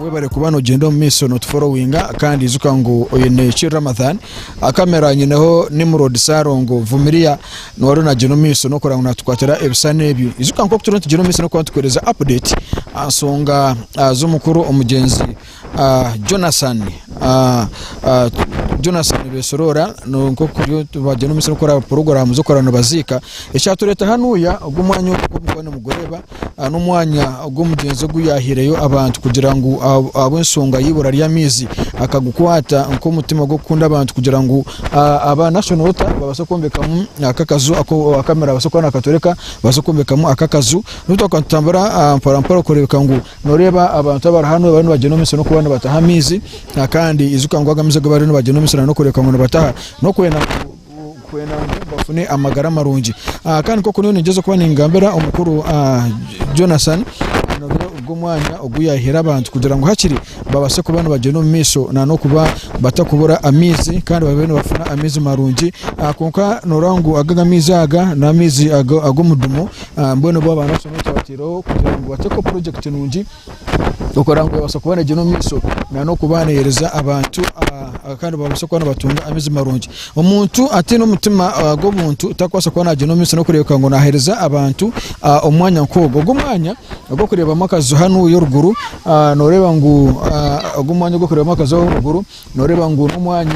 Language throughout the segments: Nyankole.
webare kuba nogyenda omu maisho notuforowinga kandi ijuka ngu oyo neki ramathan akamera nyineho nimrod sarongo vumiria niwari nagyenda omu maisho nokora ngu natukwatira ebishushani ebi ijuka nkoku turiho nitugyenda omu maisho nokuba nitukuhereza update aha nsonga ah, z'omukuru omugyenzi Jonathan Jonathan Besorora nibagenda omu musiri kukora puroguramu z'okukorera nibaziika. Ekyatureeta hanuuya ogu omwanya ogu nk'oku murikuba nimugureeba n'omwanya ogu omugyenzi ogu yaahiireyo abantu kugira ngu ahabw'enshonga y'eibura ry'amaizi akagukwata nk'omutima gw'okukunda abantu kugira ngu aba Nation Water babaase kwombekamu aka akaju aku kamera naabaasa kuba naakatworeka babaase kwombekamu aka akaju. Reero twatambura mporampora kureebeka ngu Noreeba abantu abari hanu bariyo nibagyenda omu misiri n'okuba nibataha amaizi kandi ijuka ngu aga amaizi agu bariyo nibagyenda omu misiri n'okureebeka ngu nibataha n'okwenda ngu bafune amagara marungi. Kandi nk'oku nyowe ningyezaho kuba ningambira omukuru Jonathan nobiire ogu omwanya ogu yaihire abantu kugira ngu hakiri babaase kuba nibagyenda omu maisho na n'okuba batakubura amaizi kandi babe nibafuna amaizi marungi. Kwonka noreeba ngu aga amaizi aga n'amaizi ag'omudumo Mbwenu bo abaana abashomi twabatiireho kugira ngu batekeho purojekiti nungi okora ngu ebaasa kuba neegyenda omu maisho n'okuba neehereza abantu kandi babaase kuba nibatunga amaizi marungi. Omuntu ataine omutima gw'obuntu tarikubaasa kuba naagyenda omu maisho n'okureebeka ngu naahereza abantu omu mwanya nk'ogwo. Ogu omwanya ogu orikureebamu akaju hanu oruguru, nooreeba ngu ogu omwanya ogu orikureebamu akaju aho oruguru, Noreeba ngu n'omwanya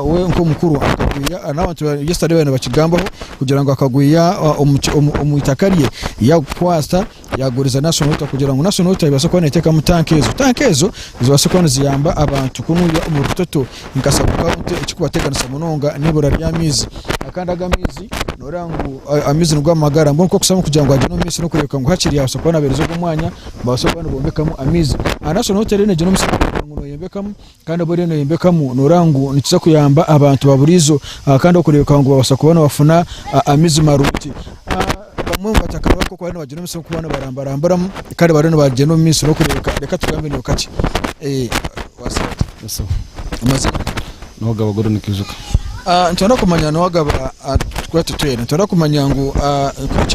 we nk'omukuru akagwiha n'abantu yesterday babaire nibakigambaho kugira ngu akagwiha omu itaka rye yakukwatsa yaguriza National Water kugira ngu National Water ebaase kuba neteekamu tanka ezo. Tanka ezo zibaase kuba niziyamba abantu ku noyiha omu rutoto nka sub county ekikubateganisa munonga n'eibura ry'amaizi kandi aga amaizi noreeba ngu amaizi nigo magara mbwenu kwokuzamu kugira ngu agire omumaiso n'okureebeka ngu hakiri abaasa kuba nabereza ogu omwanya nibabaasa kuba nibombekamu amaizi. National Water reero negira omusi kureeba ngu noyombekamu Kandi obu oriyo noyombekamu noreeba ngu nikiza kuyamba abantu baburiijo kandi okureebeka ngu babaasa kuba nibafuna amaizi marungi. Bamwe nibatakara ahabw'okuba bariyo nibagira omutsyo gw'okuba nibarambaramburamu kandi bariyo nibagyenda omu maiso n'okureebeka reka tugambe niho kakye. Amazima. Amazima. Noogaba gurimu nikiijuka. Nitubaasa kumanya ngu waagaba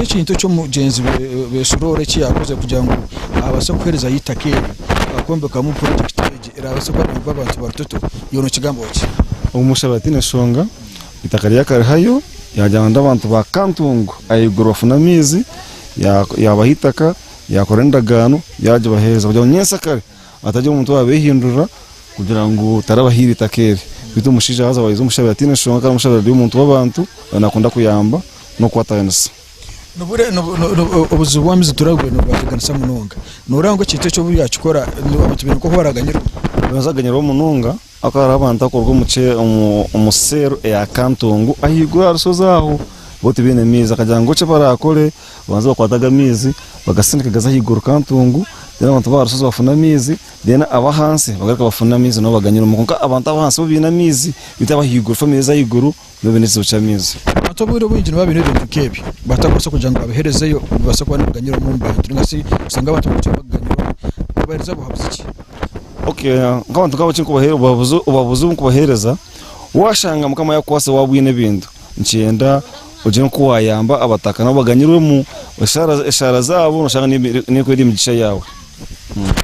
ekintu eki mugyenzi we Siroora eki yaakoze kugira ngu abaase kuherezayo eitaka eryo okwombekamu purojekiti egi eraabaase kuba neegoba abantu ba Rutoto, iwe nookigambaho ki? Omushaabe ati, Tihaine nshonga, eitaka ryaabaire rikariho, yaagira ngu n'abantu ba Kantungu ahaiguru bafune amaizi, yaabaha eitaka, yaakora endagaano, yaagibaheereza kugira ngu nyentsya kare Atari omuntu owaabeehindurira kugira ngu tarabahaire eitaka eri, beitu omushaija haza waija omushabira ataine nshonga kandi omushabira ari omuntu w'abantu naakunda kuyamba n'okukwataganisa. Ni buri obuzibu obu amiizi turabugwe nibubateganisa munonga? Nooreeba ngu ekintu eki obu yaakikora abantu baine nk'oku baraaganyirwa? Baraza kuganyirwa munonga Aku hariho abantu abakuruga omu kye omu omu seeru eya Kantungu ahaiguru aha rushozi aho bo tibaine maizi akagira ngu eki barakore babanze bakwate aga maizi bagasindike gaze ahaiguru Kantungu then abantu ba aha rushozi bafune amaizi then abahansi bagaruke bafune amaizi nabo baganywereho kwonka abantu abahansi bo baine amaizi beitu abahaiguru family ezi ahaiguru N'obu baine ekizibu ky'amaizi. Abantu obwire obwingi nibabaasa kuba baine ebintu nk'ebyo bataakubaasa kugira ngu babiherezeyo bibaase kuba nibiganyiramu omu bantu nainga shi oshange abantu nibagira ebibaganyiramu. Kubaheereza buhabuzi ki? Ok, nk'abantu nk'abo ekindikubaheereza, obuhabuzi obuhabuzi obu ndikubaheereza, waashanga Mukama yaakukwatsire waaba oine ebintu, nikyenda ogire nk'oku waayamba abataka nabo baganyirwemu eshaara eshaara zaabo nooshanga n'ebi n'ekwera emigisha yaawe.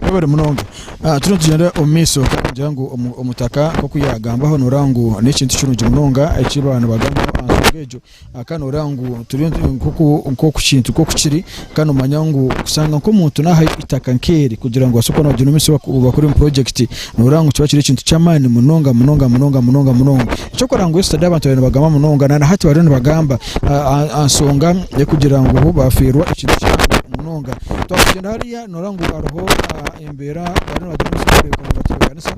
Webare munonga ah turiyo nitugyenda omu maiso ningira ngu omutaka nk'oku yagambaho noreeba ngu n'ekintu kirungi munonga eki baba nibagambaho aha nsonga egyo ah kandi noreeba ngu turiyo nk'oku nk'oku kintu nk'oku kiri kandi noomanya ngu kushanga nk'omuntu naaha itaka nk'eri kugira ngu obaase kuba noogira omu maisho oba kuri omu purojekiti. Nooreeba ngu kiba kiri ekintu ky'amaani munonga munonga munonga munonga munonga. Eky'okurora ngu yesterday abantu baabaire nibagamba munonga na nahati bariyo nibagamba aha nshonga y'okugira ngu bo baafeerwa ekintu kihango munonga. Twagyenda hariya nooreeba ngu hariho embeera bariyo nibatebeekanisa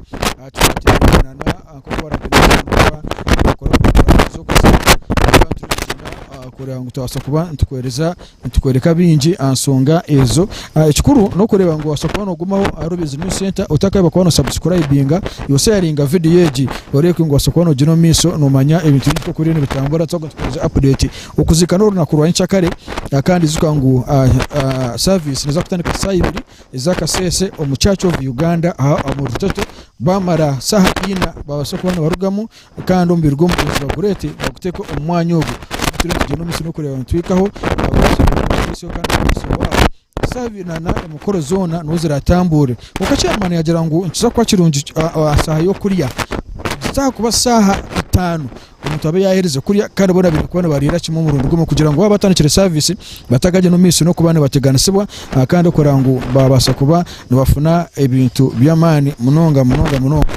kugira ngu tubaase kuba nituheereza Nitukworeka bingi aha nsonga ezo. Ekikuru n'okureeba ngu wabaasa kuba noogumaho ahari Obizi News Centre otakaaheba kuba nosabusikurayibinga. Yotsya yaringa vidiyo egi oreebeke ngu wabaasa kuba noogiine omu maisho noomanya ebintu bingi nk'oku biriyo nibitambura twaba nitukuheereza apudeeti. Okuziika n'orunaku rwa nyikyakare kandi ijuka ngu saaviisi niza kutandika shaaha ibiri ez'akasheeshe omu Church of Uganda aha Muritoto. Baamara shaaha ina baabaasa kuba nibarugamu Kandi omubiri gw'omugenzi bagurete baguteke omu mwanya ogu turi nitugyenda omu musiri kureba nitwikaho na emikoro zona niho ziratamburira kwonka eki Amani yagira ngu nikiza kuba kirungi aha saha y'okurya nikiza aha kuba saha itano omuntu abe yaherize kurya kandi bona baine kuba nibariira kimwe omurundi gumwe kugira ngu waba atandikire service batagagyenda omu maiso n'okuba nibateganisibwa kandi kureba ngu babasa kuba nibafuna ebintu by'amaani munonga munonga munonga.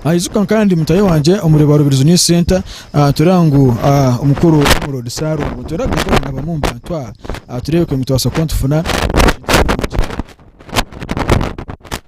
Naijuka kandi mutaahi wangye omuri Barubirizi New Center ah, nitureeba ngu ah, omukuru w'omuroodi Saarongo nitureeba ngu boona bamu omu bantu aha ah, tureebeke ngu nitubaasa kuba nitufuna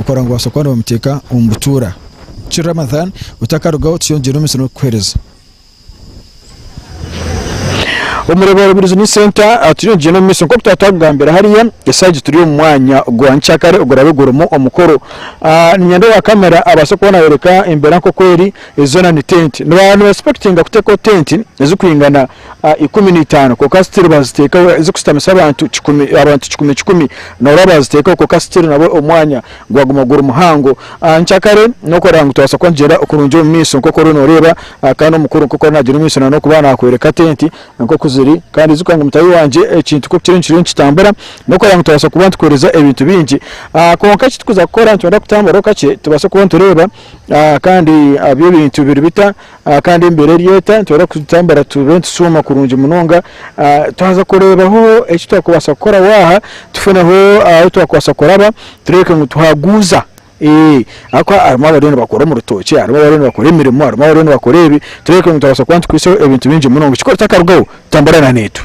Okora ngu obaase kuba noobamuteeka omu butuura. Ki Ramadhan otakarugaho tukyeyongyera omu misiri n'okukuheereza. Omu Rebero Business Centre tuyongyire n'omu maisho nk'oku twaatakugambira hariya, eshaaha egi turi omu mwanya gwa nyikyakare oguraabe gurimu omukoro. Niinyenda owa kamera abaase kuba naayoreka embeera nk'oku eri, ezi zoona ni tenti. Niba nibaisipekitinga kuteekaho tenti ezirikwingana ikumi na itaano kwonka still baziteekaho ezikushutamisa abantu kikumi abantu kikumi kikumi norora baziteekaho kwonka still nabwo omwanya gwaguma guri muhango nkyakare nokurora ngu tubaasa kuba nitugyenda kurungi omu maisho nkoku oriyo noreeba kandi omukuru nkoku ariyo nagyenda omu maisho nokuba nakworeka tenti nkoku ziri kandi ijuka ngu mutaahi wangye ekintu nkoku kiriyo nikiriyo nikitambura nokurora ngu tubaasa kuba nitukooreza ebintu bingi kwonka eki turikuza kukora nitwenda kutamburaho kakye tubaase kuba nitureeba kandi ebi ebintu biri bita. Ah, kandi embeera eri eta nitubaasa kutambura tube nitushuma kurungi munonga. Ah, twaza kureebaho eki twakubaasa kukora waaha, tufuneho ah, ahu twakubaasa kuraba, tureebeke ngu tuhaguuza. Ee, ahabw'okuba harimu abariyo nibakora omu rutookye, harimu abariyo nibakora emirimo, harimu abariyo nibakora ebi, tureebeke ngu twabaasa kuba nitukwaitseho ebintu bingi munonga. Ekikuru kitakarugaho, tambura na naitwe.